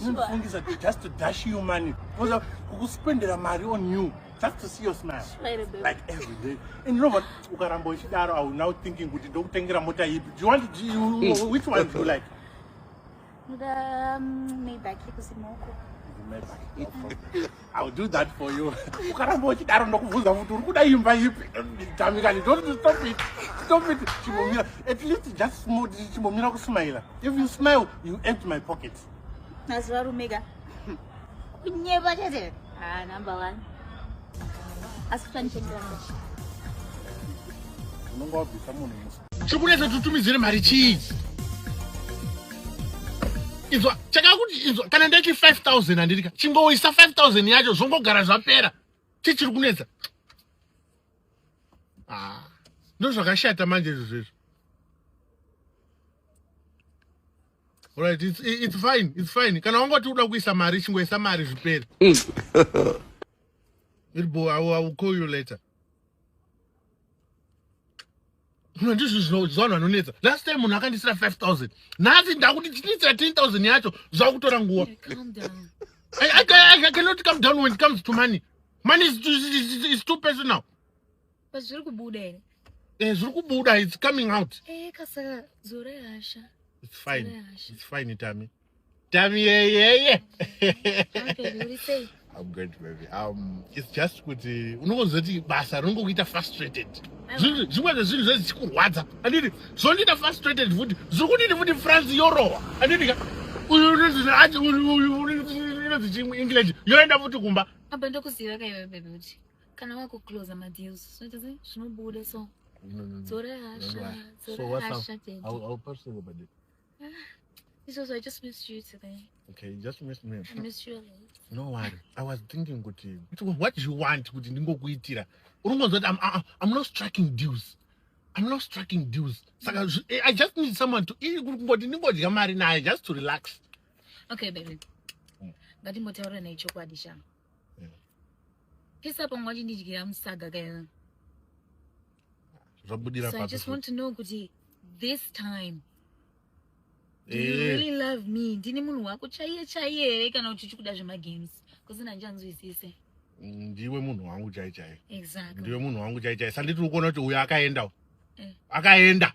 Unofungisa just to dash you money. Kuza kukuspendera mari on you just to see your smile. Like every day. And you know what? Ukaramba uchidaro I will now thinking kuti ndokutengera mota ipi. Do you want to, you, which one do you like? The um, Maybach ikusimoko. The Maybach. I'll do that for you. Ukaramba uchidaro ndokubvunza futi uri kuda imba ipi? Tamikani, don't stop it. Stop it. Chimomira. At least just smile. Chimomira kusmile. If you smile, you empty my pocket. Nazwa rumega. Kunyeba chete. Ah, number one. Asikutanishengera. Unonga wabvisa munhu musi. Chikunetsa tutumidzire mari chii? Izwa chakakuti izwa kana ndati 5000 handirika chingoisa 5000 yacho zvongogara zvapera chichiri kunetsa ah, ndozvakashata manje izvo zvezvo right it's, it's fine it's fine kana wangoti uda kuisa mari chingoisa mari zvipere mm. irbo i will call you later ndizvo zvinozvivanhu vanonetsa last time munhu akandisira 5000 nhasi ndakuti tinoitira 10000 yacho zvakutora nguva I, I, I, I cannot come down when it comes to money money is, is, is, is too personal but zviri kubuda here eh zviri kubuda it's coming out eh kasaka dzore hasha it's fine it's fine tami tamiyeyeye I'm good baby. Um, it's just kuti unokonzoti basa rinongokuita frustrated. Zvimwe zvezvinhu zvese zvichikurwadza. Anditi zvondiita frustrated futi. Zviri kudini futi France yorohwa. Anditi ka uyu unozvinati uyu unozvi chimwe English yoenda futi kumba. Apa ndokuziva ka iwe baby kuti kana wakuclose madeals zvinoita sei zvinobuda so. Dzora hasha. Dzora hasha. So what's up? I'll, I'll personally This was I just missed you today. Okay, you just missed me. I missed you a lot. No worry. I was thinking kuti what do you want kuti ndingokuitira. Urongonzwa kuti I'm, I- I'm not striking deals. I'm not striking deals. Saka zvi- eh, I just need someone to eh, kuti kungoti ndingodya mari naye just to relax. Okay, baby. Mm. Ngatimbotaura naye chokwadi sha. pesa pangu achindidyira musaga kaina zvabudira so i just want to know kuti this time do you eh. really love me ndini munhu wako chaiye chaiye here kana kuti uchikuda zvemagames kusina handianzwisise ndiwe munhu wangu chai chai ndiwe munhu wangu chai chai sanditiri kuona kuti uyo akaenda eh. akaenda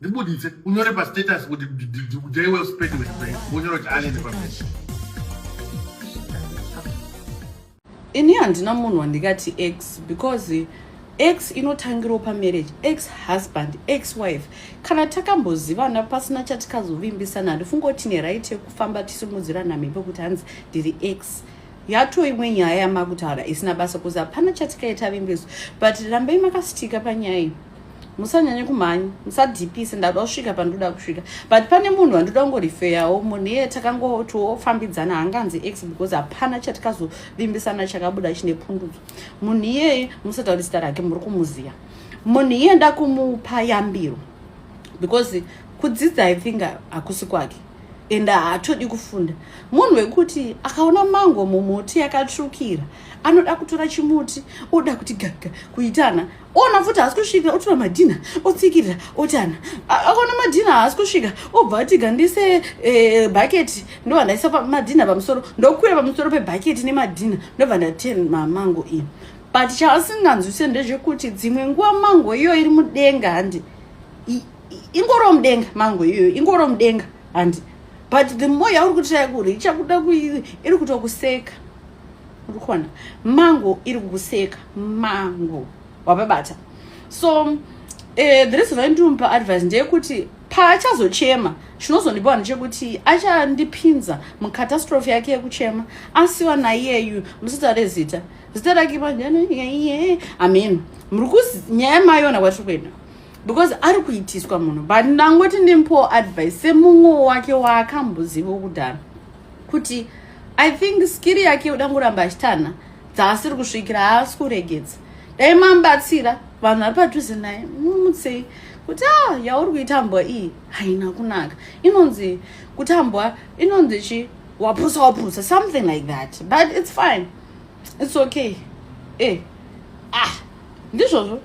ndibuditse unyore pastatus kuti dai well spent with brain unyore kuti alien pamese ini handina munhu wandikati x because x inotangirawo pamarriage x husband x wife kana takambozivana pasina chatikazovimbisana handifunga kuti tine right yekufamba tisimudzirana mhepo kuti hanzi ndiri x yato imwe nyaya yamakutaura isina basa kuzi hapana chatikaita vimbiso but rambai makasitika panyaya iyi musanyanye kumhanya musadhipise ndada kusvika pandoda kusvika but pane munhu wandoda kungorifeyawo munhu iye takangotofambidzana hanganzi x because hapana chatikazovimbisana chakabuda chine pundudzo munhu iyeye musatauri zita rake muri kumuziva munhu iye ndakumupa yambiro because kudzidza i think hakusi kwake and haatodi kufunda munhu wekuti akaona mango mumuti yakatsvukira anoda kutora chimuti oda kuti gaga kuitana ona futi haasi kusvika otora madhina otsikirira otana akaona madhina haasi kusvika obva atiga ndise eh, bhaketi ndobva ndaisa madhina pamusoro ndokwira pamusoro pebhaketi nemadhina ndobva ndaten mamango iyi but chaasinganzwise ndezvekuti dzimwe nguva mango iyo iri mudenga handi ingoro mudenga mango iyoyo ingoro mudenga handi but the more yauri kutira kuri ichakuda iri kutokuseka ukuona mango iri kukuseka mango wapabata so uh, the reason why ndinomupa advice ndeyekuti paachazochema chinozondibawa ndechekuti achandipinza mucatastrophe yake yekuchema asiwa naiyeyu muzita rezita zita rake paiye amen muri kunyaya mayona kwatiri kuenda because ari kuitiswa munhu but ndangoti ndimpowo advice semumwewo wake waakambozivo kudhara kuti i think skiri yake yoda kuramba achitana dzaasiri kusvikira haasi kuregedza dai mamubatsira vanhu vari padhuze naye mumutsei kuti a ah, yauri kuitambwa iyi haina kunaka inonzi kutambwa inonzi chi wapusa wapusa something like that but it's fine it's okay e ah ndizvozvo